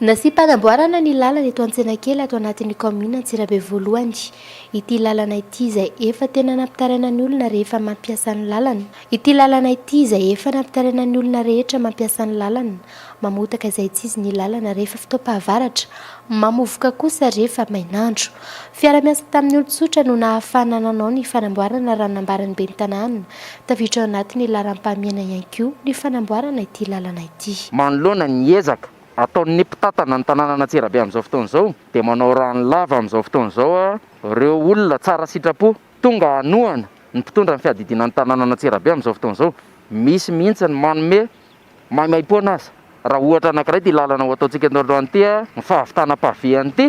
Nasiam-panamboarana ny lalana eto Antsenakely ato anatin'ny kaominina Antsirabe voalohany ity lalana ity izay efa tena nampitaraina ny olona rehefa mampiasa ny lalana ity lalana ity izay efa nampitaraina ny olona rehetra mampiasa ny lalana mamotaka izay tsy izy ny lalana rehefa fotoam-pahavaratra mamovoka kosa rehefa mainandro fiara miasa tamin'ny olon-tsotra no nahafahana nanao ny fanamboarana raha nambaran'ny ben'ny tanàna tafiditra ao anatin'ny laharam-pahamehana ihany koa ny fanamboarana ity lalana ity. Manoloana ny ezaka Ataon'ny mpitantana ny tanànan'Antsirabe amin'izao fotoana izao dia manao rano lava amin'izao fotoana izao ireo olona tsara sitrapo tonga hanohana ny mpitondra ny fiadidiana ny tanànan'Antsirabe amin'izao fotoana izao. Misy mihitsy ny manome maimaimpoana aza raha ohatra anankiray ity lalana ho ataontsika eto androany ity ny fahavitana pavé an'ity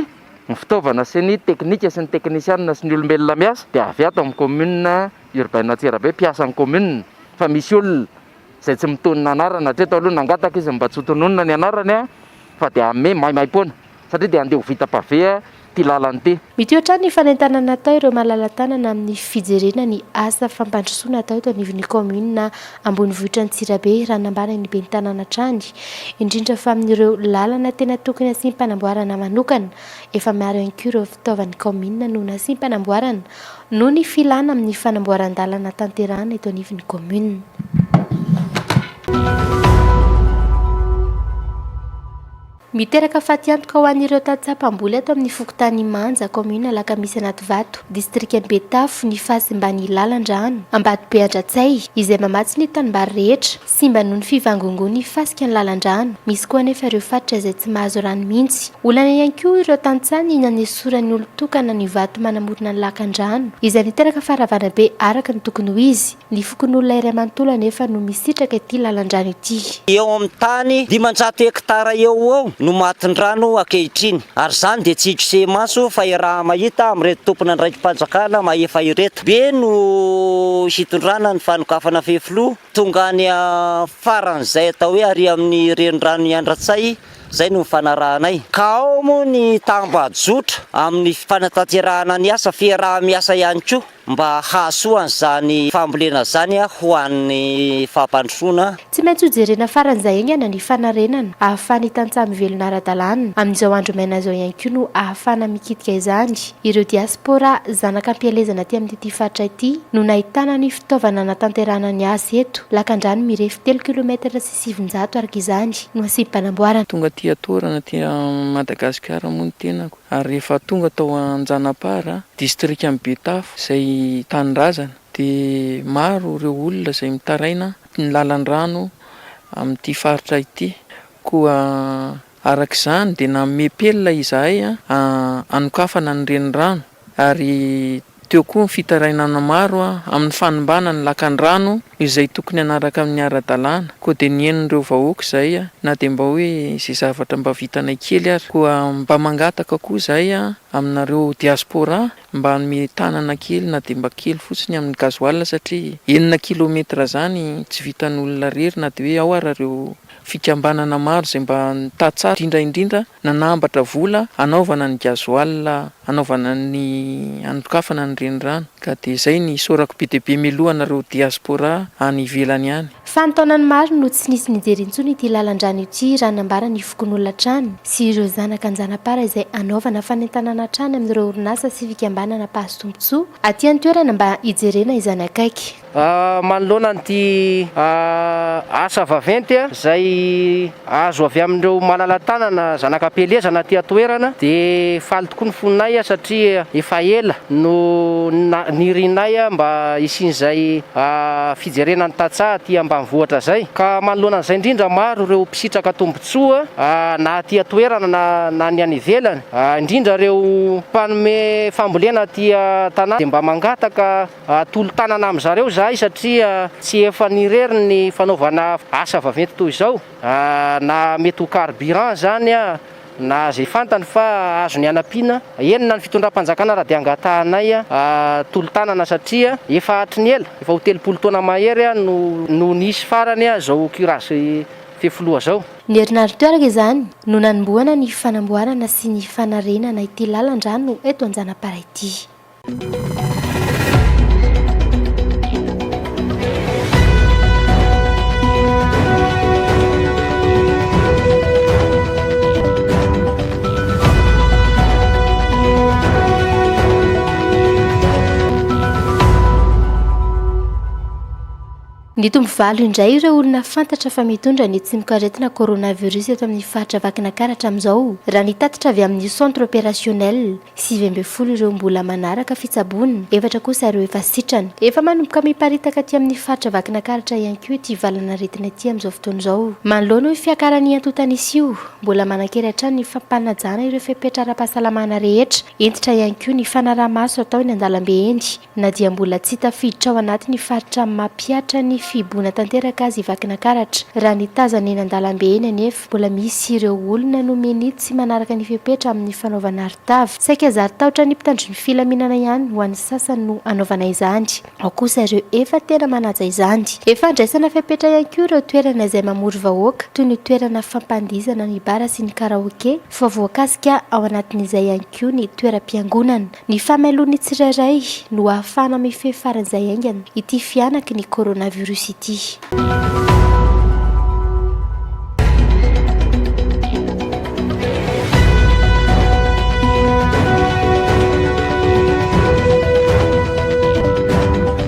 ny fitaovana sy ny teknika sy ny teknisianina sy ny olombelona miasa dia avy ato amin'ny commune urbaine Antsirabe mpiasan'ny commune fa misy olona izay tsy mitonona anarana hatreto aloha nangataka izy mba tsy ho tononina ny anarany a fa dia hanome maimaimpoana satria dia handeha ho vita pavé ity lalana ity. Mitohy hatrany ny fanentanana atao ireo malala-tanana amin'ny fijerena ny asa fampandrosoana atao eto anivon'ny kaominina ambonivohitra Antsirabe raha nambaran'ny ben'ny tanàna hatrany indrindra fa amin'ireo lalana tena tokony hasim-panamboarana manokana efa maro ihany koa ireo fitaovan'ny kaominina no nasim-panamboarana Noho ny filàna amin'ny fanamboaran-dalana tanterahana eto anivon'ny kaominina. Miteraka fatiantoka ho an'ireo tantsaha mpamboly ato amin'ny fokontany Manja, kaominina Alakamisy Anativato, distrikan'i Betafo ny fahasimban'ny lalan-drano Ambatobe Andratsay, izay mamatsy ny tanimbary rehetra Simba noho ny fivangongoan'ny fasika ny lalan-drano. Misy koa anefa ireo faritra izay tsy mahazo rano mihitsy. Olana ihany koa ireo tantsaha ny nanesoran'ny olon-tokana ny vato manamorona ny lakan-drano, izay niteraka faharavana be araka ny tokony ho izy. Ny fokonolona iray manontolo anefa no misitraka ity lalan-drano ity. Eo amin'ny tany dimanjato hektara eo ho eo no matin-drano ankehitriny, ary izany dia tsy ikosehim-maso fa iaraha-mahita amin'ireto tompon'andraiki-panjakana mahefa ireto. Be no hitondrana ny fanokafana fefiloha. Tonga any faran'izay atao hoe ary amin'ny renirano Iandratsay izay no nifanarahanay. Ka ao moa ny tambajotra amin'ny fanatanterahana ny asa fiaraha-miasa ihany koa mba hahasoa an'izany fambolena izany ho an'ny fampandrosoana. Tsy maintsy hojerena faran'izay haingana ny fanarenana ahafahan'ny tantsaha mivelona ara-dalàna amin'izao andro maina izao ihany koa no ahafahana mikitika izany ireo diaspora zanaka am-pielezana aty amin'ity faritra ity no nahitana ny Fitaovana hanatanterahana ny asa eto, lakandrano mirefy telo kilometatra sy sivinjato araka izany no asiam-panamboarana. Tonga aty Atohorana aty Madagasikara moa ny tenako ary rehefa tonga tao Anjanapara, distrikan'i Betafo izay tanindrazana dia maro ireo olona izay mitaraina ny lalan-drano amin'ity faritra ity koa Araka izany, dia nanome pelina izahay hanokafana ny renirano, ary teo koa ny fitarainana maro amin'ny fanimbana ny lakandrano izay tokony hanaraka ny ara-dalàna. Koa dia nihainon'ireo vahoaka izahay, na dia mba hoe izay zavatra mba vitanay kely ary. Koa mba mangataka koa izahay aminareo diaspora mba hanome tanana kely na dia mba kely fotsiny amin'ny gasoil satria enina kilometers izany tsy vitan'olona irery na dia hoe ao ara ireo Fikambanana maro izay mba nitatsara, indrindra indrindra nanambatra vola hanaovana ny gasoil hanaovana ny hanokafana ny renirano ka dia izay ny isaorako be dia be mialoha anareo diaspora any ivelany any. Fanintaonany maro no tsy nisy nijery intsony ity lalan-drano ity raha nambara ny fokonolona hatrany sy ireo zanaka an-janapara izay hanaovana fanentanana hatrany amin'ireo orinasa sy fikambanana mpahazo tombontsoa aty an-toerana mba hijerena izany akaiky. Manoloana an'ity asa vaventy izay azo avy amin'ireo malala-tanana zanaka am-pielezana aty an-toerana dia faly tokoa ny fonay satria efa ela no nirianay mba hisian'izay fijerena ny tantsaha aty ambanivohitra izay ka manoloana an'izay indrindra maro ireo mpisitraka tombontsoa na aty an-toerana na ny any ivelany indrindra ireo mpanome fambolena aty an-tanàna dia mba mangataka Tolo-tanana amin-dry zareo izahay satria tsy efany irery ny fanaovana asa vaventy toy izao, na mety ho carburant izany na izay fantany fa azony hanampiana, eny na ny fitondram-panjakana ary dia hangatahanay tolo-tanana satria efa hatry ny ela, efa ho telopolo taona mahery no nisy farany izao curage fefiloha izao. Ny herinandro teo araka izany no nanombohana ny fanamboarana sy ny fanarenana ity lalan-drano eto Anjanapara ity. Nitombo valo indray ireo olona fantatra fa mitondra ny tsimokaretina coronavirus eto amin'ny faritra Vakinakaratra amin'izao, raha ny tatitra avy amin'ny Centre Opérationnel. Sivy ambin'ny folo ireo mbola manaraka fitsaboana, efatra kosa ireo efa sitrana. Efa manomboka miparitaka aty amin'ny faritra Vakinakaratra ihany koa ity valanaretina ity amin'izao fotoana izao. Manoloana io fiakaran'ny antontan'isa io, mbola manan-kery hatrany ny fampanajana ireo fepetra ara-pahasalamana rehetra. Hentitra ihany koa ny fanaraha-maso atao eny an-dalambe eny. Na dia mbola tsy tafiditra ao anatin'ny faritra mampihatra ny fihiboana tanteraka aza i Vakinakaratra, raha ny tazana eny an-dalambe eny anefa, mbola misy ireo olona nomeny tsy manaraka ny fepetra amin'ny fanaovana arotava. Saika zary tahotra ny mpitandro ny filaminana ihany ho an'ny sasany no hanaovana izany, ao kosa ireo efa tena manaja izany. Efa andraisana fepetra ihany koa ireo toerana izay mamory vahoaka, toy ny toerana fampandihizana ny bara sy ny karaoke, fa voakasika ao anatin'izay ihany koa ny toeram-piangonana. Ny famelon'ny tsirairay no hahafahana mifehy faran'izay haingana ity fihanaky ny coronavirus ity.